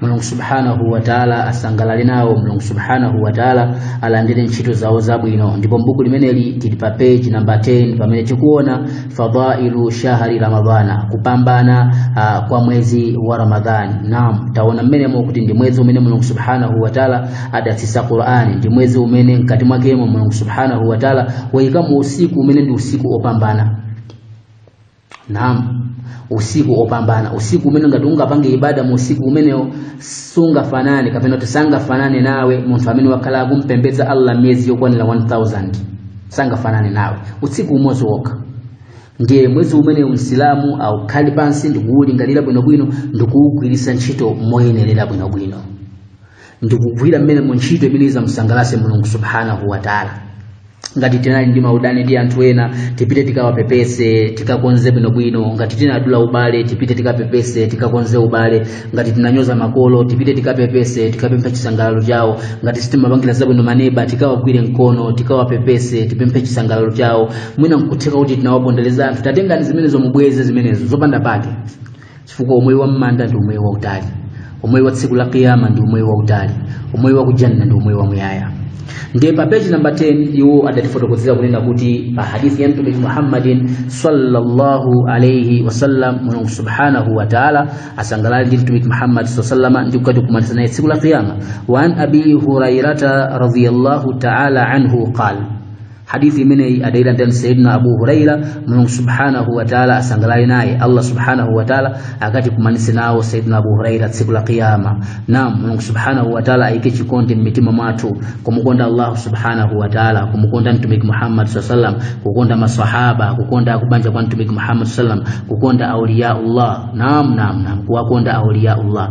mulungu subhanahu wataala asangalale nawo mulungu subhanahu wataala alandire ntchito zawo zabwino ndipo mbuku limeneli tili pa page namba 10 pamene tikuona fadailu shahri ramadhana kupambana uh, kwa mwezi wa ramadhani naam taona mmenemo kuti ndi mwezi umene mulungu subhanahu wataala adatsitsa qur'ani ndi mwezi umene mkati mwakemo mulungu subhanahu wataala wayikamo usiku umene ndi usiku opambana naam usiku opambana usiku umene ngati ungapange ibada mu usiku umenewo sungafanane kapena kuti sangafanane nawe munthu amene wakhala kumpembedza allah miyezi yokwanira 1000 sangafanane nawe usiku umodzi wokha ndiye mwezi umene msilamu aukhalire pansi ndikuwulingalira bwinobwino ndikuwugwiritsa ntchito moyenerera bwinobwino ndikugwira mmenemu ntchito imene izamusangalatse mulungu subhanahu wataala ngati tinali ndi maudani ndi anthu ena tipite tikawapepese tikakonze bwinobwino ngati tinadula ubale tipite tikapepese tikakonze ubale ngati tinanyoza makolo tipite tikapepese tikapemphe chisangalalo chawo ngati sitimapangira zabwino maneba tikawagwire mkono tikawapepese tipemphe chisangalalo chawo mwina nkutheka kuti tinawapondereza anthu tatengani zimenezo mubweze zimenezo zopanda pake chifukwa umoyo wa mmanda ndi umoyo wautali umoyo wa tsiku la kiyama ndi umoyo wautali umoyo wa kujanna ndi umoyo wamuyaya ndiye pa peji namba 10 iwo adatifotokozera kunena kuti hadithi ya mtumiki muhammadin sallallahu alaihi wasallam mulungu subhanahu wa taala asangalale ndi mtumiki muhammad saa salama ndi kukati kukumanitsa naye tsiku la kiyama wa an abi hurairata radiallahu taala anhu qala hadithi imeneyi adailanda ndi sayidina abu huraira mulungu subhanahu wataala asangalale naye allah subhanahu wataala akatikumanise nawo sayidina abu huraira tsiku la qiyama nam mulungu subhanahu wataala ayike chikondi mmitima mwathu kumukonda allahu subhanahu wataala kumukonda mtumiki muhammad saa salam kukonda masahaba kukonda kubanja kwa mtumiki muhammad saa salam kukonda auliyaullah nam nam nam kuwakonda auliyaullah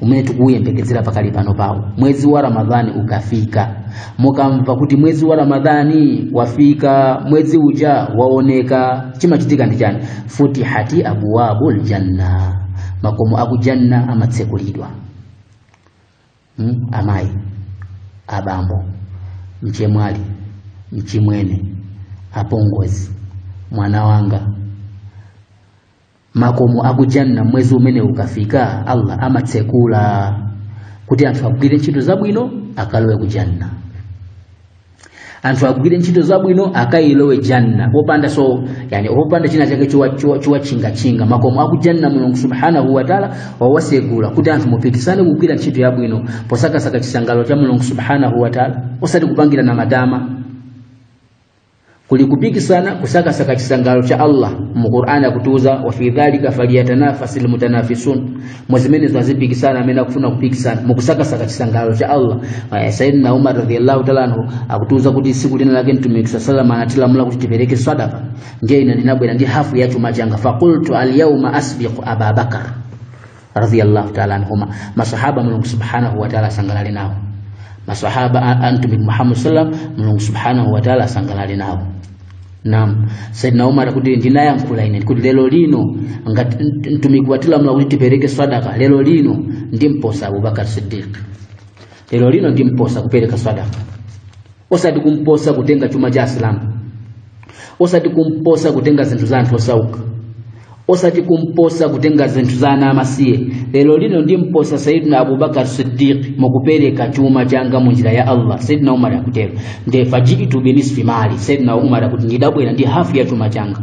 umene tikuyembekezera pakali pano pawo mwezi wa ramadhani ukafika mukamva kuti mwezi wa ramadhani wafika mwezi uja waoneka chimachitika ndi chani futihati abwabu ljanna makomo akujanna amatsekulidwa hmm? amayi abambo mchemwali mchimwene apongozi mwana wanga makomo akujanna mwezi umene ukafika allah amatsekula kuti anthu agwire ntchito zabwino akalowe ku janna anthu agwire ntchito zabwino akayilowe janna popanda so yani popanda china chake chowatchingatchinga makomo akujanna mulungu subhanahu wataala wawasegula kuti anthu mupikisane kugwira ntchito yabwino posakasaka chisangalalo cha mulungu subhanahu wataala osati kupangirana matama kuli kupikisana kusakasaka chisangalalo cha allah mu qur'ani akutiuza wa fi dhalika falyatanafasi lmutanafisun mu zimenezo azipikisana amene akufuna kupikisana mukusakasaka chisangalalo cha allah Eh, sayidina umar radiallahu taala anhu akutiuza kuti siku lina lake mtumiki saa salama anatilamula kuti tipereke sadaka ndiye ine ndinabwera ndi hafu ya chuma changa faqultu alyauma asbiqu ababakar radhiyallahu ta'ala anhuma masahaba mulungu subhanahu wa ta'ala asangalale nawo masahaba a- a mtumiki muhammad sallam mulungu subhanahu wa ta'ala asangalale nawo nam saidna umar akuti ndinayankhula ine kuti lero lino ngati mt- mtumiki watilamula kuti tipereke sadaka lero lino ndimposa abubakar siddiq lero lino ndimposa kupereka sadaka osati kumposa kutenga chuma cha asilamu osati kumposa kutenga zinthu za anthu osauka osati kumposa kutenga zinthu za ana amasiye lero lino ndimposa sayidina abubakar siddiq mukupereka chuma changa mu njira ya allah sayidina umar akutero nde fajitu binisfi mali sayidina umar akuti ndidabwera ndi hafu ya chuma changa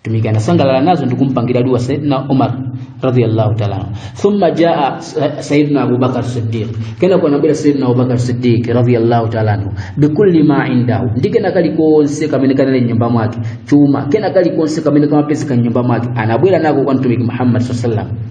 mtumiki anasangalala nazo ndi kumpangira dua saidna umar radiyallahu ta'ala anhu. thumma jaa sa- saidna abubakar siddiq kena kunabwera saidna abubakar siddiq radiyallahu ta'ala anhu bikulli ma indahu ndi kena kalikonse kamene kanali mnyumba mwake chuma kena kalikonse kamene kamapezeka mnyumba mwake anabwera nako kwa mtumiki muhammad sallallahu alaihi wasallam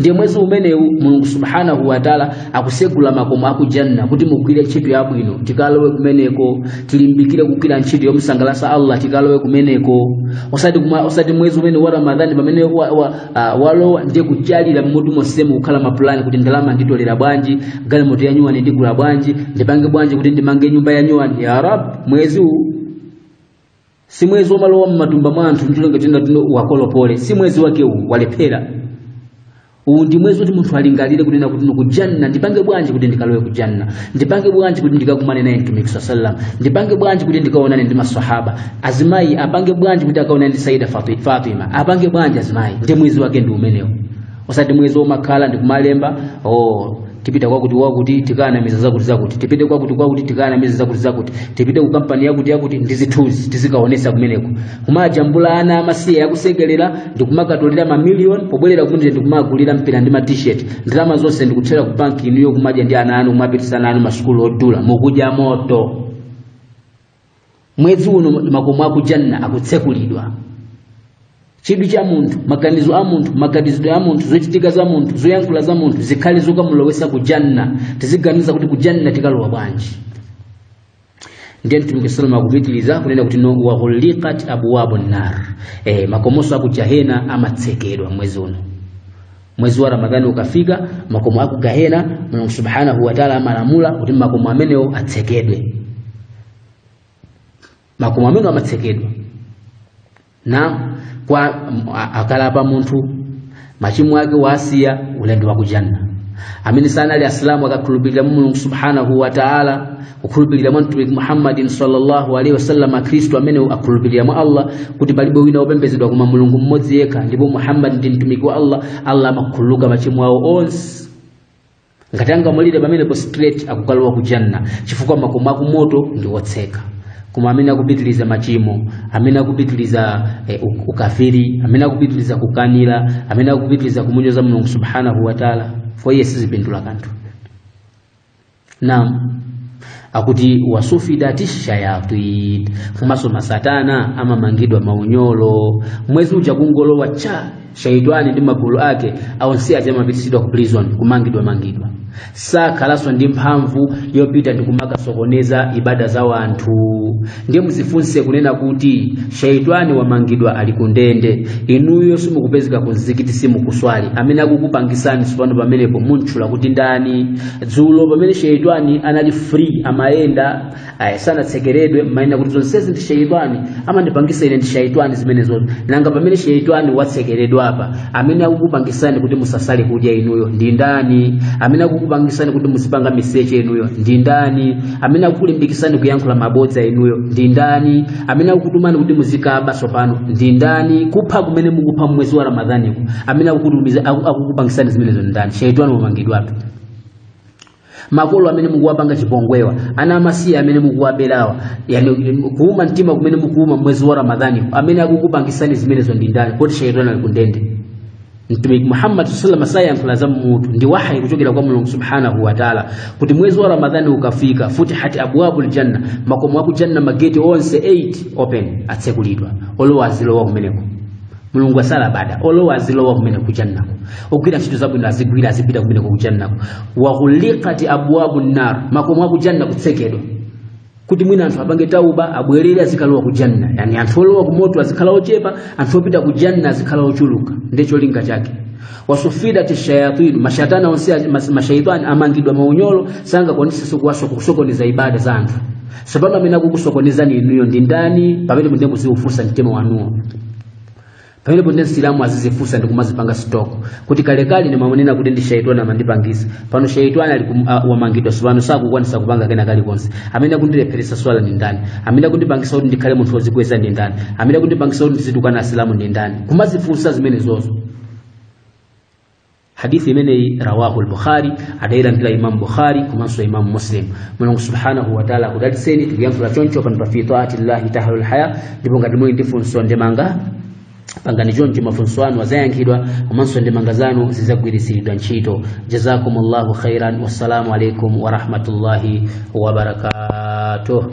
ndiye mwezi umenewu mulungu subhanahu wataala akusegula makomo akujanna kuti mugwire ntchito yabwino tikalowe kumeneko tilimbikire kugwira ntchito yomusangalasa allah tikalowe kumeneko osati, kuma, osati mwezi umene wa ramadhani pamene wa, wa, uh, walowa ndiye kuchalira mmutu monsemu kukhala mapulani kuti ndalama nditolera bwanji galimoto yanyuwani ndigula bwanji ndipange bwanji kuti ndimange nyumba yanyuwani ya rab mwezi uwu si mwezi womalowa m'matumba mwa anthu mtulenga tenda tuno wakolopole si mwezi wake uwu walephera uwu ndi mwezi woti munthu alingalire kunena kuti ine kujanna ndipange bwanji kuti ndikalowe kujanna ndipange bwanji kuti ndikakumane naye mtumiki saa sallam ndipange bwanji kuti ndikaonane ndi masahaba azimayi apange bwanji kuti akaonane ndi saida Fati- fatima apange bwanji azimayi ndi mwezi wake ndi umenewu osati mwezi omakhala ndikumalemba oh, tipita kwakuti kwakuti tikanamiza zakuti zakuti tipite kwakuti kwakuti tikanamiza zakuti zakuti tipite ku kampani yakuti yakuti ndi zithunzi tizikaonesa kumeneko kumajambula ana amasiye akusekelera ndikumakatolera mamiliyoni pobwerera kumene ndikumagulira mpira ndi matisheti ndalama zonse ndikuthera ku banki inuyo kumadya ndi ana anu kumapitisa ana anu masukulu odula mukudya moto mwezi uno makomo aku janna akutsekulidwa chidwi cha munthu maganizo a munthu maganizidwe a munthu zochitika za munthu zoyankhula za munthu zikhale zokamulowesa ku janna tiziganiza kuti ku janna tikalowa bwanji ndiye mtumiki sallam akupitiliza kunena kuti no waghuliqat abwabu nar eh, makomoso aku jahena amatsekedwa mwezi uno mwezi wa ramadhani ukafika makomo aku gahena mulungu subhanahu wataala amalamula kuti makomo amenewo atsekedwe makomo amenewo amatsekedwa na kwa a- akalapa munthu machimo ake wasiya ulendo wa kujanna amene sanali asilamu akakhulupirira mu mulungu subhanahu wataala kukhulupirira mwa mtumiki muhammadin sallallahu alaihi wasallam akhristu amene akhulupirira mwa allah kuti palibe wina wopembedzedwa koma mulungu mmodzi yekha ndipo muhammadi ndi mtumiki wa allah allah amakhululuka machimo awo onse ngati angamwalire pamenepo straight akukalowa ku janna chifukwa makomo akumoto ndi otseka koma amene akupitiliza machimo amene akupitiliza eh, u- ukafiri amene akupitiliza kukanira amene akupitiliza kumunyoza mulungu subhanahu wataala foye sizipindula kanthu naam akuti wasufidati shayatin komanso masatana amamangidwa maunyolo mwezi uja kungolowa cha shaitani ndi magulu ake onse aja amapitisidwa ku prison kumangidwa mangidwa sakhalanso ndi mphamvu yopita ndi kumakasokoneza ibada za wanthu ndiye muzifunse kunena kuti shaitani wamangidwa ali kundende inuyo simukupezeka kunzikiti simukuswali amene akukupangisani tsopano pamenepo muntchula kuti ndani dzulo pamene shaitani anali free amayenda aya sanatsekeredwe mmanena kuti zonsezi ndi shaitani amandipangisa ine ndi shaitani zimenezo nanga pamene shaitani watsekeredwa apa amene akukupangisani kuti musasali kudya inuyo ndi ndani amene akukupangisani kuti muzipanga miseche inuyo ndi ndani amene akukulimbikitsani kuyankhula mabodza inuyo ndi ndani amene akukutumani kuti muzikaba tsopano ndi ndani kupha kumene mukupha mmwezi wa ramadhaniku amene akukutumiza- aku- akukupangisani zimenezo ndi ndani shaitani wamangidwa apa makolo amene mukuwapanga chipongwewa ana amasiye amene mukuwaberawa yani kuuma mtima kumene mukuuma mwezi wa ramadhani amene akukupangisani zimenezo ndi ndani poti shaitani ali kundende mtumiki muhammad sallallahu alaihi wasallam sayankhula za mmutu ndi wahayi kuchokera kwa mulungu subhanahu wa taala kuti mwezi wa ramadhani ukafika futihati abwabul janna makomo aku janna mageti onse 8 open atsekulidwa olowa azilowa kumeneko mulungu asala bada olowa azilowa kumeneko kujannako ogwira ntchito zabwino azigwira azipita kumeneko kujannako wa ghulikati abwabu nar makomo aku janna kutsekedwa kuti mwina anthu apange tauba abwerere azikalowa ku janna yani anthu olowa ku moto azikhala ochepa anthu opita ku janna azikhala ochuluka ndi cholinga chake wasufidati shayatinu mashatana onse a- mas- mashaitani amangidwa maunyolo sangakwanisenso kuwaso- kusokoneza ibada za anthu tsopano amene akukusokonezani inuyo ndi ndani pamenepo ndiye muziufunsa mtima wanuwo pamenepo ndi msilamu azizifunsa ndi kumazipanga sitoko kuti kalekale ndimanena kuti ndi shaitani amandipangisa pano shaitani ali kum- a- wamangidwa sopano sakukwanisa kupanga kena kalikonse amene akundilepheresa swala ndi ndani amene akundipangisa kuti ndikhale munthu wozikweza ndi ndani amene akundipangisa kuti ndizitukwana asilamu ndi ndani kumazifunsa zimenezozo hadithi imeneyi rawahu al-bukhari adailandira imam bukhari komanso imam muslim mulungu subhanahu wa taala akudalitseni tikuyankhula choncho pano pa fi taati llahi tahalul haya ndipo ngati muli ndi funso ndemanga pangani choncho mafunso anu azayankhidwa komanso ndemanga zanu zizagwiritsiridwa ntchito jazakumullahu khairan wassalamu alaikum warahmatullahi wabarakatuh